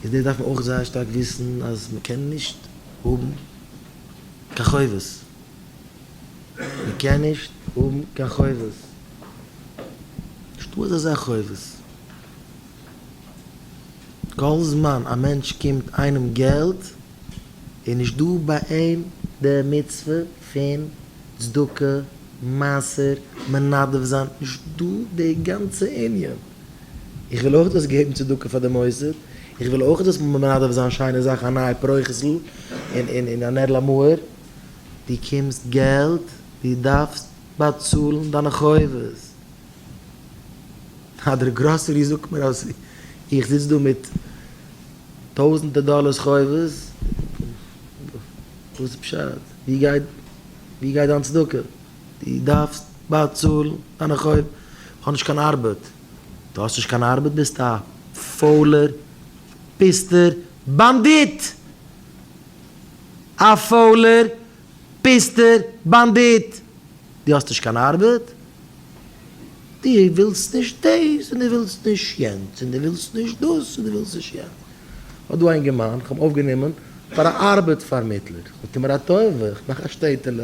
איז דאס דארף מען אויך זייער שטארק וויסן אז מען קען נישט האבן קיין חובות, מען קען נישט האבן קיין חובות, נישטא אזא זאך חובות, כל זמן א מענטש קומט איינעם געלט איז נישטא ביי אים די מצוה פון צדקה, מעשר, מנדב זיין, נישטא די גאנצע ענין. איך וויל אויך דאס געבן צדקה פאר די מוסד, איך וויל אויך דאס מנדב זיין שיינע זאכן א נייע פרוכת'ל און א נער'ל א מוהר. דו קומסט געלט, דו דארפסט באצאלן דיינע חובות. אז דער גראסערי זאגט מיר אז איך זיץ דא מיט טויזענטער דאלערס חובות, וואס איז פשט? וואו גייט דיין צדקה? דו דארפסט באצאלן דיינע חובות. איך האב נישט קיין ארבעט. דו האסט נישט קיין ארבעט? ביסט א פוילער פיסטער באנדיט! א פוילער פיסטער באנדיט! דו האסט נישט קיין ארבעט? דו ווילסט נישט דאס און דו ווילסט נישט יענץ און דו ווילסט נישט דאס און דו ווילסט נישט יענץ. ס'דא א אינגערמאן איך האב אויפגענומען פאר א ארבעט פארמיטלער. זאגט ער מיר א טובה, איך מאך א שטעטעלע,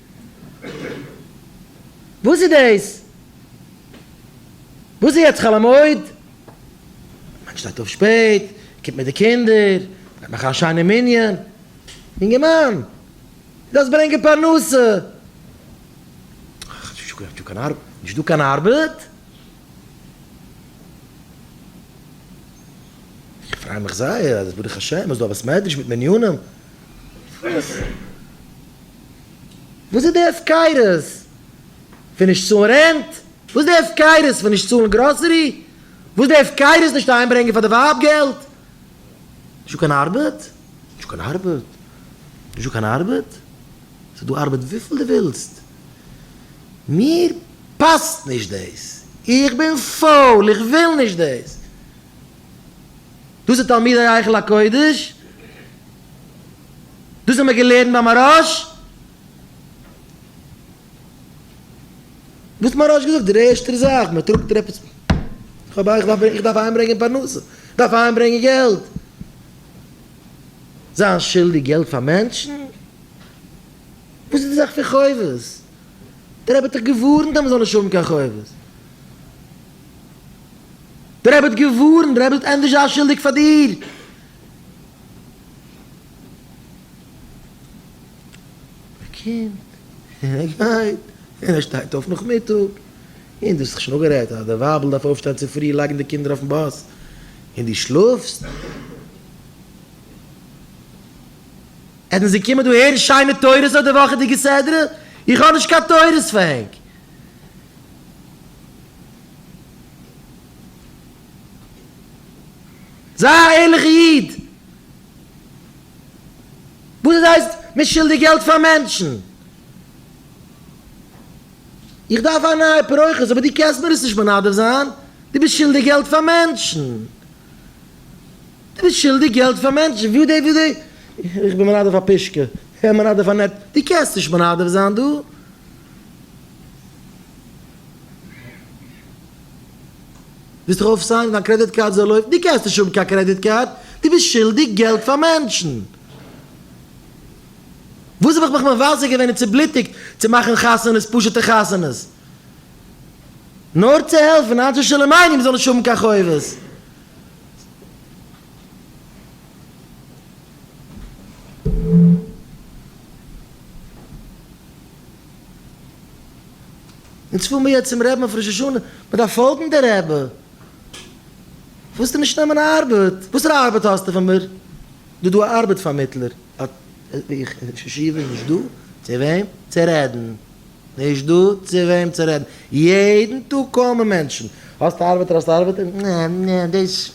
וואס איז דאס? וואס איז יעצט חול המועד? מען שטייט אויף שפעט, מען קומט מיט די קינדער, מען גייט מאכן א שיינע מנין. יונגערמאן, דו זאלסט ברענגען פרנסה. נישט דא קיין ארבעט? נישט דא קיין ארבעט? איך פריי מיך זייער אז ברוך השם איז דא א בית מדרש מיט מניינים. וואס וואס איז די הפקרות פון נישט צאלן רענט? וואס איז די הפקרות פון נישט צאלן גראסערי? וואס איז די הפקרות נישט אהיימברענגען פאר די ווייב געלט? נישטא קיין ארבעט? נישטא קיין ארבעט? נישטא קיין ארבעט? ס'איז דא ארבעט וויפיל דו ווילסט. מיר פאסט נישט דאס. איך בין פויל, איך וויל נישט דאס. דאס איז תלמידי היכל הקודש? דאס האבן מיר געלערנט ביי מהרש א, וואס האט מהרש א געזאגט דער ערשטער זאך מען טראגט דיר עפעס, כ'האב איך דארף איך דארף אהיים ברענגען פרנסה, דארף אהיים ברענגען געלט, זיין שולדיג געלט פאר מענטשן, וואס איז די זאך פון חובות, דער רבי האט דאך געווארנט אז מען זאל נישט האבן קיין חובות, דער רבי האט געווארנט, דער רבי האט ענדערש זיין שולדיג פאר דיר. ער קומט, און ער גייט, און ער שטייט אויף נאכמיטאג, און דאס האסט שוין אפגערעדט אז די ווייבל דארף אויפשטיין צופרי לייגן די קינדער אויפן באס, און דו שלאפסט. עס ווען זיי קומען דא הערן שיינע תורות אויף די וואכעדיגע סדרה, איך האב נישט קיין תורות פאר ענק. זיי א ערליכע איד! וואס איז הייסט מען שולדיג געלט פאר מענטשן? איך דארף א נייע פרוכת אבער דו קענסט מיר עס נישט מנדב זיין? דו ביסט שולדיג געלט פאר מענטשן! דו ביסט שולדיג געלט פאר מענטשן! וואו די וואו די? איך בין מנדב א פושקע, איך בין מנדב א נעט, דו קענסט נישט מנדב זיין דא? ווילסט זיך אויפסיינען מיט דיין קרעדיט קארד זאל לויפן? דו קענסט נישט האבן קיין קרעדיט קארד, דו ביסט שולדיג געלט פאר מענטשן. וואס האב איך מיך מבזה געווען און צובלוטיגט צו מאכן חתונות, פשוטע חתונות? נאר צו העלפן אנשי שלום עינים זאלן נישט האבן קיין חובות. אונז פאר מיר יעצט צום רעבען אויף ראש השנה, מען דארף פאלגן די רעבע. ווילסטו נישט נעמען ארבעט? וואסערע ארבעט האסטו פון מיר? דא דא א ארבעט פארמיטלער. איך אין ישיבה נישט דא צו וועם צו רעדן. נישט דא צו וועם צו רעדן. יעדן טאג קומען מענטשן. האסט ארבעט אדער האסט ארבעט? נע נע דאס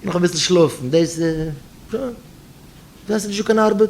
נאך אביסל שלאפן דאס. דא האסטו נישט דא קיין ארבעט.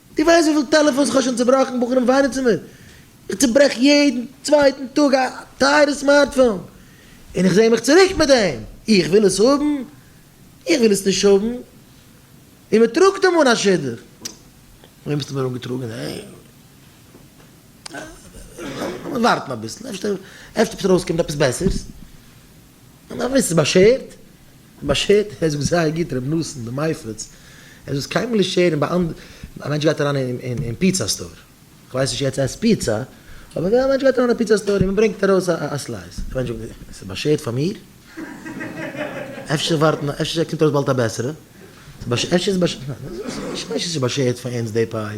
דו ווייסט וויפיל טעלעפאנס איך האב שוין צובראכן? בחורים וויינען צו מיר, איך צוברעך יעדן צווייטן טאג א טייערע סמארטפאון, און איך זע מיך צוריק מיט דעם, איך וויל עס האבן? איך וויל עס נישט האבן, און מען טראגט אים אן א שידוך, וועם האסטו מיר אנגעטראגן? לאמיר ווארטן אביסל, אפשר אפשר ארויסקומט עפעס בעסערס, מען דארף וויסן ס'איז באשערט, באשערט ער זאגט זייער גוט ר' נתן די מייפעלס ער זאל עס קיינמאל נישט שערן ביי אנדערע א מענטש גייט אריין אין פיצא סטאר כ'ווייס נישט עטס עסט פיצא אבער ווען א מענטש גייט אריין אין א פיצא סטאר און מ'ברענגט ארויס א סלייס די מענטש זאגט עס איז באשערט פאר מיר? אפשר ווארטן אפשר קומט ארויס באלד א בעסערע אפשר איז עס באשערט פאר אונז די פיי.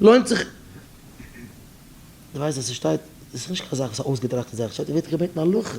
לוינט זיך די ווייסט אז ס'שטייט, ס'איז נישט קיין זאך וואס איז אויסגעטראכטע זאך, ס'שטייט ער ווערט געבעטן הלכה.